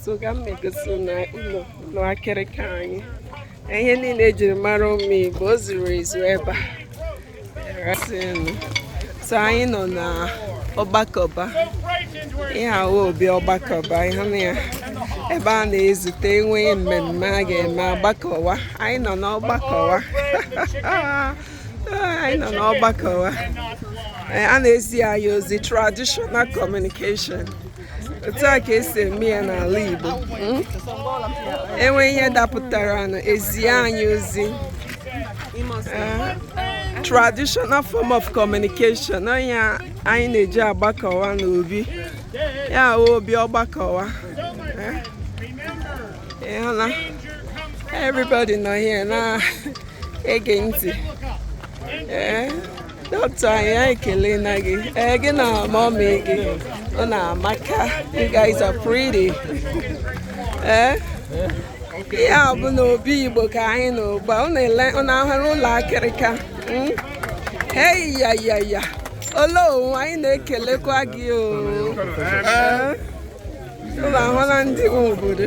so ka m na-egosi unu ụlọ akịrịka anyị ihe niile e jiri mara ụmụ Igbo o zuru ezu ebe a so anyị nọ na ọgbakọba ihe ahụ obi ọgbakọba ị hụna ya ebe a na-ezute e nwee ihe mmemme a ga-eme a gbakọwa anyị nọ n'ọgbakọwa anyị nọ n'ọgbakọwa a na-ezi anyị ozi traditional communication otu a ka e si eme ya n'ala Igbo hmm? e nwee ihe dapụtaranụ e zie anyị ozi eh, traditional form of communication onye anyị na-eji agbakọwa n'obi a obi ọgbakọwa eh? ị hụla everybody nọ here na-ege ntị eh? dọkịta anyị anyị ekelena gị ee eh, gị na mọmị gị unu amaka you guys are pretty ee eh? ihe a bụ na obi igbo ka anyị nọ ugbu a unu ahụla ụlọ akịrịka hmm? hey ya ya ya ole onwe anyị na-ekelekwa gị o eh? unu ahụla ndị obodo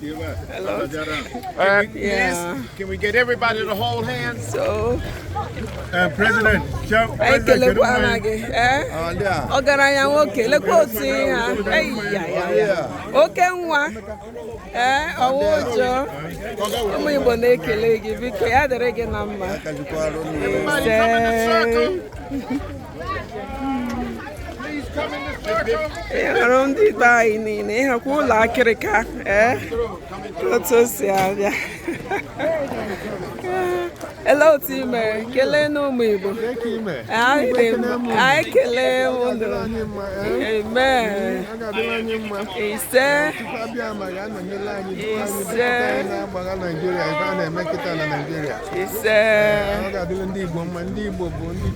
Hello. Uh, yeah. Can we get everybody to hold hands? So. Uh, President, Joe. Ekelekwaa m gị. Ọgaranya nwoke, lekwa otu ị ha. Eyi ya ya ya. Oke nwa. Ee, ọwa ụjọ. Ụmụ Igbo na-ekele gị biko ya dịrị gị na mma. Ise. ị hụrụ ndị be anyị niile ị hụkwa ụlọ akịrịka ee otu o si abịa ele otu ị mere kelee n'ụmụ Igbo anyị ekelee unu amen ise ise ise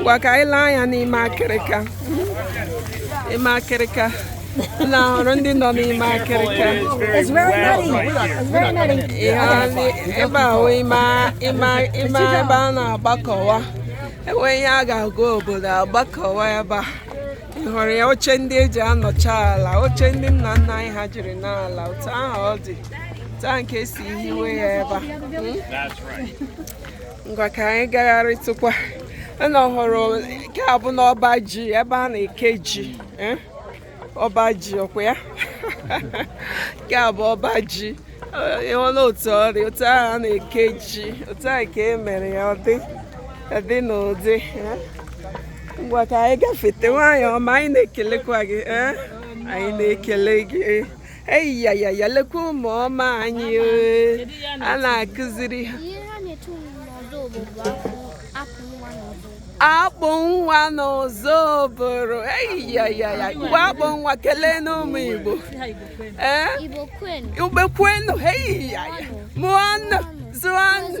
ngwa ka anyị lee anya n'ime akịrịka ime akịrịka unu hụrụ ndị nọ n'ime akịrịka ebe ahụ ime ebe a na-agbakọwa e nwee ihe a ga-agwa obodo a gbakọwa ebe a ị hụrụ ya oche ndị e ji anọcha ala oche ndị nna nna anyị ha jiri nọ ala otu ahụ ọ dị taa ka e si hiwe ya ebe a hmm? ngwa ka anyị gagharịtụkwa ana ọhụrụ nke a bụ n'ọba ji ebe a na-eke ji eh? ọba ji ọ kwa ya nke a bụ ọba ji ị hụla otu ọ dị otu ahụ a na-eke ji otu ahụ ka e mere ya ọ dị ọ dị n'ụdị eh? ngwa ka anyị gafete nwaanyị ọma anyị na-ekelekwa gị eh? anyị na-ekele gị eyiyayaya lekwa ụmụ ọma anyị a na-akụziri ha akpụ nwa n'ụzọ obodo eyiyayaya ebe akpụ nwa kelenụ ụmụ igbo ee ibe kwenu eyiyaya mụọnụ zụọnụ